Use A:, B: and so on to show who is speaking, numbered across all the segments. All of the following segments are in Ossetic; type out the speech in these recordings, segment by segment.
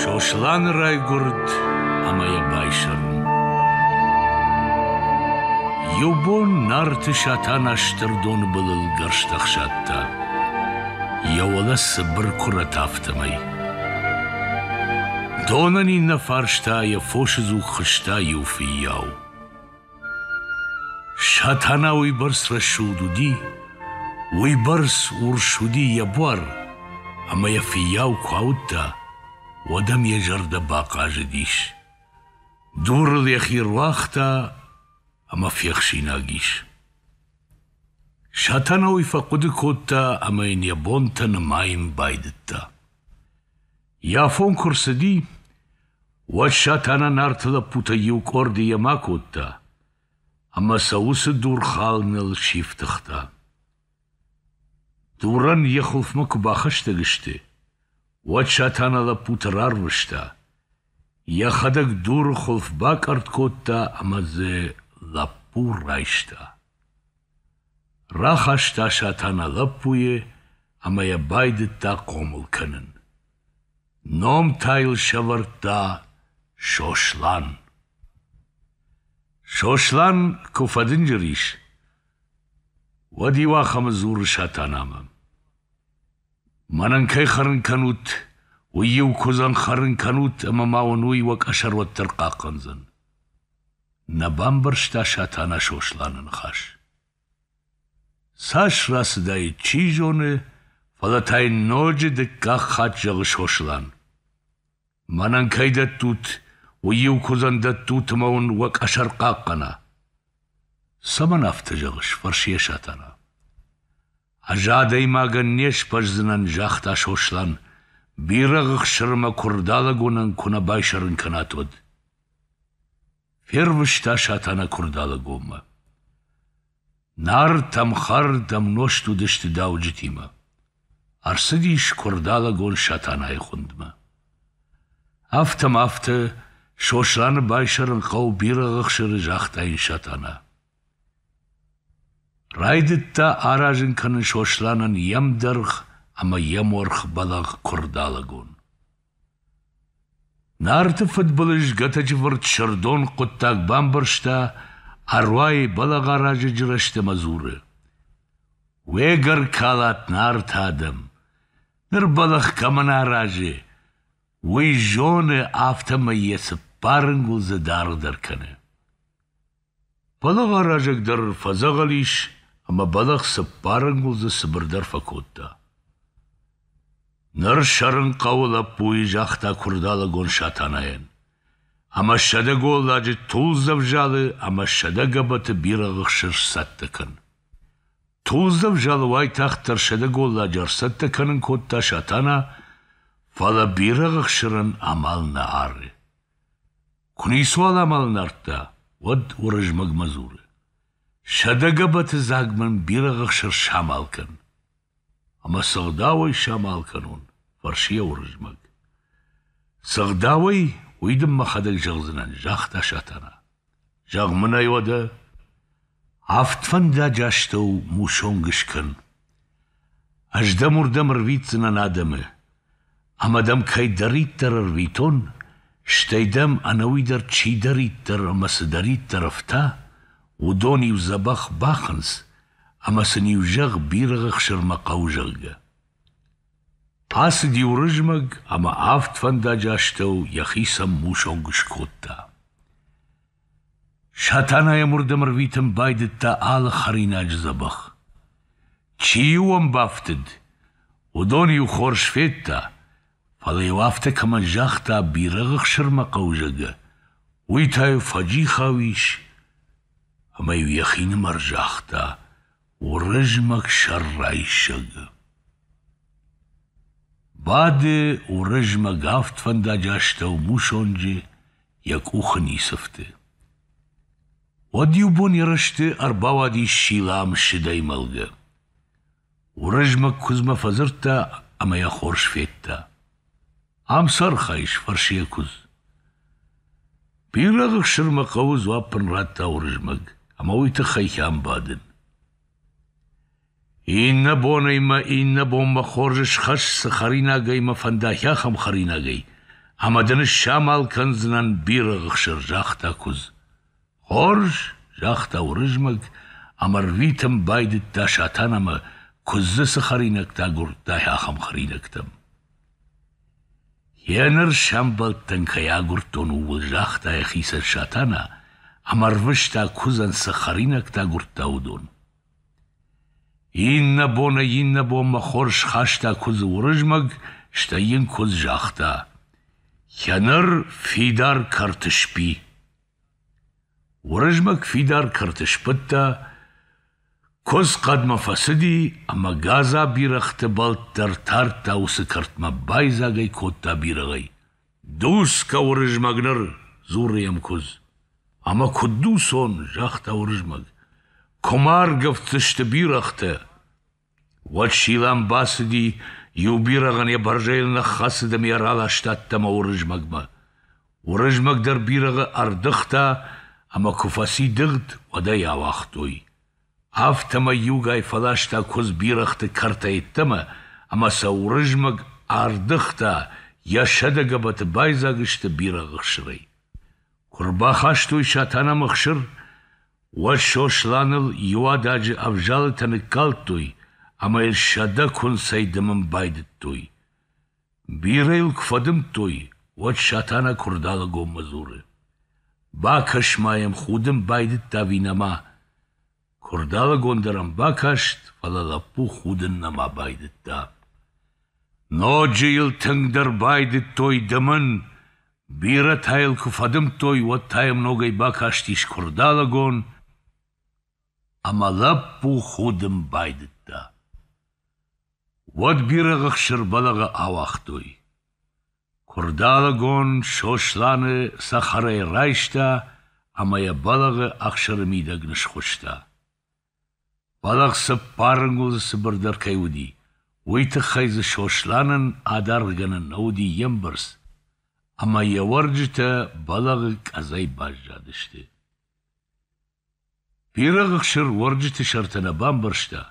A: Сосланы райгуырд ӕмӕ йӕ байсӕрм. Иу бон Нарты Сатана стырдоны былыл гӕрзтӕ хсадта, йӕ уӕлӕ цыбыр куырӕт афтӕмӕй. Донӕн иннӕ фарста йӕ фосы дзуг хызта иу фыййау. Сатана уыйбӕрц рӕсугъд уыди, уыйбӕрц урс уыди йӕ буар, ӕмӕ йӕ фыййау куы ауыдта, уӕд ӕм йӕ зӕрдӕ бахъазыдис. Дурыл йӕхи руагъта ӕмӕ фехсинаг ис. Сатана уый фӕхъуыды кодта ӕмӕ йын йӕ бонтӕ нымайын байдыдта. Йӕ афон куы рцыди, Уӕд Сатана Нарты лӕппутӕй иу къорды йемӕ кодта ӕмӕ сӕ уыцы дурхалыныл сифтыгъта. Дурӕн йӕ хуылфмӕ куы бахӕстӕг сты, уӕд Сатана лӕппуты рарвыста, йӕхӕдӕг дуры хуылф бакъӕртт кодта ӕмӕ дзы лӕппу райста. Рахаста Сатана лӕппуйы ӕмӕ йӕ байдыдта хъомыл кӕнын. Ном та йыл сӕвӕрдта Сослан. Сослан куы фӕдынджыр ис, уӕд иуахӕмы дзуры Сатанамӕ. Мӕнӕн кӕй хӕрын кӕнут, уый-иу куыдзӕн хӕрын кӕнут, ӕмӕ ма уын уый уӕ къӕсӕр уӕддӕр хъахъхъӕндзӕн. Нӕ бамбӕрста Сатана Сосланы ныхас. Цас рацыдаид, чи зоны, фӕлӕ та йын ноджы дыккаг хатт зӕгъы Сослан: Мӕнӕн кӕй дӕттут, уый-иу куыдзӕн дӕттут ӕмӕ уын уӕ къӕсӕр хъахъхъӕна. — Цӕмӕн афтӕ зӕгъыс? — фӕрсы йӕ Сатана. — Ӕз адӕймагӕн не сбӕздзынӕн, — загъта Сослан, — бирӕгъы хсырмӕ куырдалӕгонӕн куы нӕ байсӕрын кӕнат, уӕд. Фервыста Сатана Куырдалыгоммӕ. Нарт ӕм хӕрд, ӕм нозт уыдысты дауджытимӕ. Ӕрцыдис Куырдалыгон Сатанайы хуындмӕ. Афтӕ ма афтӕ Сосланы байсӕрын хъӕу бирӕ ӕхсыры загъта йын Сатана. Райдыдта аразын кӕнын Сосланӕн йе мдӕргъ ӕмӕ йе морх бӕлӕгъ Куырдалыгон. Нарты фыдбылыз Гӕтӕджывырт Сырдон хъуыддаг бамбӕрста, ӕруайы бӕлӕгъаразӕджы рӕзты ӕмӕ дзуры: «Уе гӕр калат нарты адӕм, ныр бӕлӕх кӕмӕн аразы, уый зоны, афтӕмӕй йӕ цыппар ӕнгуылдзы даргъдӕр кӕны». Пӕлӕваразӕг дӕр фӕдзӕгъӕл ис ӕмӕ бӕлӕгъ цыппар ӕнгуылдзы цыбырдӕр фӕкодта. Ныр сӕрын хъӕуы лӕппуйы, загъта куырдалӕгон Сатанайӕн. Ӕмӕ сӕдӕ голладжы тулдзӕв залы ӕмӕ сӕдӕ гӕбӕты бирӕгъы хсыр сцӕттӕ кӕн. Тулдзӕв залы уайтагъддӕр сӕдӕ голладжы ӕрцӕттӕ кӕнын кодта Сатана, фӕлӕ бирӕгъы хсырӕн амал нӕ ары. Куы ницуал амал нардта, уӕд Уырызмӕгмӕ дзуры: Сӕдӕ гӕбӕты дзаг мын бирӕ ӕхсыр самал кӕн. Ӕмӕ цы гъдауӕй самал кӕнон? фӕрсы йӕ Уырызмӕг. Цы гъдауӕй, уый дын мӕхӕдӕг зӕгъдзынӕн, загъта Сатана. Зӕгъ мын ӕй уӕдӕ. Авд фӕндаджы астӕу мусонг скӕн. Ӕз дӕм уырдӕм ӕрвитдзынӕн адӕмы, ӕмӕ дӕм кӕйдӕриддӕр ӕрвитон, стӕй дӕм ӕнӕуи дӕр чидӕриддӕр ӕмӕ цыдӕриддӕр ӕфта, уыдон-иу дзӕбӕх бахынц, ӕмӕ сын-иу зӕгъ, бирӕгъы хсырмӕ хъӕуы, зӕгъгӕ. Ацыди Уырызмӕг ӕмӕ авд фӕндаджы астӕу йӕхицӕн мусонг скодта. Сатана йӕ мырдӕм ӕрвитын байдыдта алы хӕринаджы дзӕбӕх. Чи-иу ӕм бафтыд, уыдон-иу хорз федта, фӕлӕ-иу афтӕ кӕмӕн загъта бирӕгъы хсырмӕ хъӕуы, уый та-иу фӕджихау ис, ӕмӕ-иу йӕхинымӕр загъта Уырызмӕг сӕррайсӕг. Бады Уырызмӕг авд фӕндаджы астӕу мусонджы йӕ къухы ницыфты. Уӕд иубон йӕ рӕзты ӕрбауадис Силам сыдӕй мӕлгӕ. Уырызмӕг куыдзмӕ фӕдзырдта ӕмӕ йӕ хорз федта. Ам цы архайыс? фӕрсы йӕ куыдз. Бирӕгъ ӕхсырмӕ хъӕуы, дзуапп ын радта Уырызмӕг, ӕмӕ уый тыххӕй хӕм бадын. Иннӕ бонӕй мӕ иннӕ бонмӕ хорз схӕсс цы хӕринагӕй мӕ фӕндаhi ахӕм хӕринагӕй, ӕмӕ дын самал кӕндзынӕн бирӕ ӕхсыр, загъта куыдз. Хорз, загъта Уырызмӕг ӕмӕ рвитын байдыдта Сатанамӕ куыдзы цы хӕринӕгтӕ агуырдтай, ахӕм хӕринӕгтӕм. Еныр сӕмбӕлдтӕн кӕй агуырдтон, ууыл, загъта йӕхицӕн Сатана ӕмӕ рвыста куыдзӕн цы хӕринӕгтӕ агуырдта, уыдон. Иннӕ боны иннӕбонмӕ хорз хаста куыдзы Уырызмӕг, стӕй йын куыдз загъта: «Кӕнӕр фидар кӕрты сби». Уырызмӕг фидар кӕрты сбыдта, куыдз хъӕдмӕ фӕцыди ӕмӕ гадза бирӕгъты бӕлт дӕр тардта уыцы кӕртмӕ, байдзаг ӕй кодта бирӕгъӕй. Дуцгӕ Уырызмӕг ныр, дзуры йӕм куыдз. Ӕмӕ куыд дуцон, загъта Уырызмӕг, куы ма аргӕвддзысты бирӕгътӕ. Уӕд Силӕм бацыди, иу бирӕгъӕн йӕ бӕрзӕйыл ныххӕцыд ӕмӕ йӕ раласта ӕмӕ Уырызмӕгмӕ. Уырызмӕг дӕр бирӕгъы ӕрдыгъта, ӕмӕ куы фӕци дыгъд, уӕд ӕй ауагътой. афтӕмӕй иугай фӕласта куыдз бирӕгъты кӕртӕй йеддӕмӕ ӕмӕ сӕ Уырызмӕг ӕрдыгъта, йӕ сӕдӕгӕбӕты байдзаг сты бирӕгъы хсырӕй. Куы рбахастой Сатанамы хсыр, уӕд Сосланыл иу ададжы ӕвзалытӕ ныккалдтой ӕмӕ йын сӕдӕ куынцӕй дымын байдыдтой. Бирӕ йыл куы фӕдымдтой, уӕд Сатана Куырдалыгонмӕ дзуры: «Бакӕс-ма йӕм, худын байдыдта Винӕмӕ!» Куырдалыгон дӕр ӕм бакаст, фӕлӕ лӕппу худын нӕма байдыдта. Ноджы йыл тынгдӕр байдыдтой дымын, бирӕтӕ йыл куы фӕдымдтой, уӕд та йӕм ногӕй бакастис Куырдалыгон, Ӕмӕ лӕппу худын байдыдта. Уӕд бирӕгъы хсыр бӕлӕгъы ауагътой. Куырдалыгон Сосланы цӕхӕрӕй райста ӕмӕ йӕ бӕлӕгъы ӕхсыры мидӕг нысхуыста. Бӕлӕгъ цыппарынгуылдзы цыбырдӕр кӕй уыди, уый тыххӕй дзы Сосланӕн адаргъгӕнӕн нӕ уыди йе мбӕрц, ӕмӕ йӕ уӕрджытӕ бӕлӕгъы къӕдзӕй баззадысты. Бирӕгъ ӕхсыр уӕрджыты сӕртӕ нӕ бамбӕрста,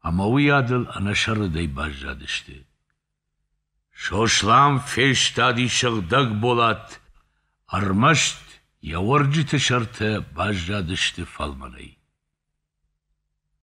A: ӕмӕ уыйадыл ӕнӕсӕррытӕй баззадысты. Сослан фестади сыгъдӕг болат, ӕрмӕст йӕ уӕрджыты сӕртӕ баззадысты фӕлмӕнӕй.